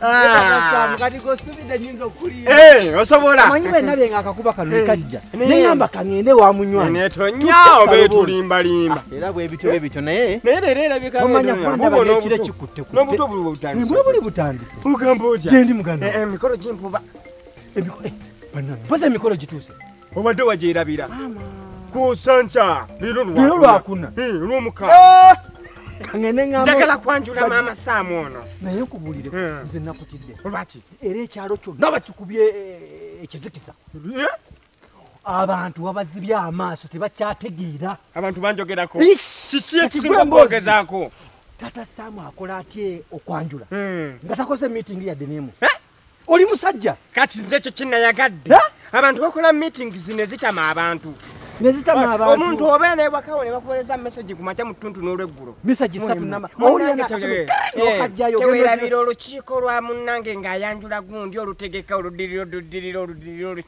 Ah. Eh, osobola amanyi wenna byenga akakuba kano eh, kajja neŋamba kaŋende wa munywanitonyawo betulimbalimba ah, era bwebityo bebityo naye omanya kwandabaekiro kikuttekutebuli butandise ogamba otya gyendi muganda eh, emikolo gimpuba empoza emikolo gituuse obadde wagyerabira kusanca lero lwakuna lwomukana eh! njagala kwanjula maama saamu ono naye nkubulire eh. nze nakutidde lwaki era ekyalo kyonna bakikubye eh, ekizikiza abantu wabazibye amaaso tebakyategeera abantu banjogerako kiki ekisinga okwogezaako tata saamu akola atye okwanjula nga takoze miitingi yadde nemu oli musajja kati nze ekyo kinayagadde abantu bakola meeting zino ezitama abantu omuntu obeera ewakawo ne bakuwereza mesagi ku makya mu ttuntu n'olweggulo tewerabira olukiiko lwa munnange ng'ayanjula gundi olutegeka oludirira oludirira oludirira olu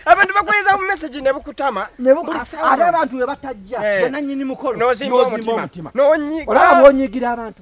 abantu bakuwereza mu mesagi ne bukutama ate abantu we batajja eh. benanyini mukolo n'ozimba omutima n'onyiga abantu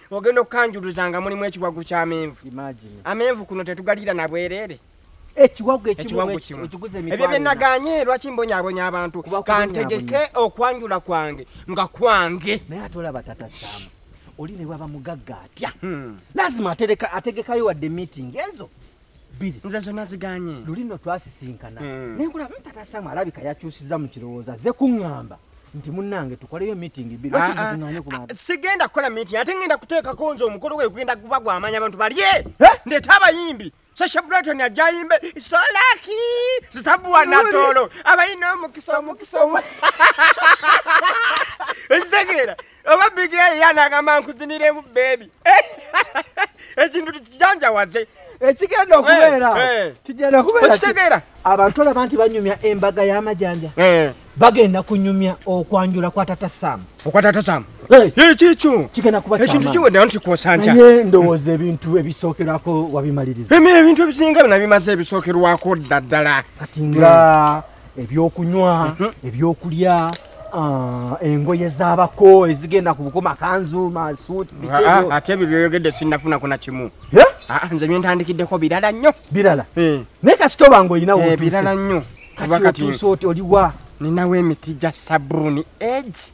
ogenda okukanjuluza nga mulimu ekiwagu ky'amenvu amenvu kuno tetugalira na bwereere ekiwagu ekiwagu kimu ebyo bye naganye lwaki mbonyabonya abantu kantegeke okwanjula kwange nga kwange naye ate olaba tata samu oli ne bwaba mugagga atya hmm. lazima ategekayo wadde meeting ezo bbiri nze zonna ziganye luli no twasisinkana hmm. naye nkula mpata hmm, samu alabika yakyusizza mu kirowoozo azze kuŋŋamba nti munnange tukoleyo meeting bbiri ah, ah, ah, sigenda kukola meeting ate ngenda kuteekako nze omukolo gwe gugenda kuba gwamanya abantu balye eh? ndeeta abayimbi sasha brighton ajayimbe solaki zitabuwa natolo abayina omukisa omukisa omukisa ekitegeera oba bigi eyo yanagamba nkuziniremu bebi ekintu tikijanjawaze ekigenda okubeera eh, eh. kigenda kubeerakitegeera abantu olaba nti banyumya embaga y'amajanja eh. bagenda kunyumya okwanjula kwa tata sam okwa tata sam ekikyo kigenda kuba ekintu kiwedde nti kwosanca naye ndowooza ebintu ebisookerwako wabimaliriza ebintu ebisinga binabimaze ebisookerwako dda ddala kati nga ebyokunywa mhm. ebyokulya ah, engoye zabako ezigenda ku bukoma kanzu masuuti ah, ah, ate ebyo byoyogedde sinnafunako na kimu nze byentandikideko birala nnyo birala eh. naye kasitoba nga olinawo eh, birala nnyo kati oliwa ninawo emiti gya sabuuni egi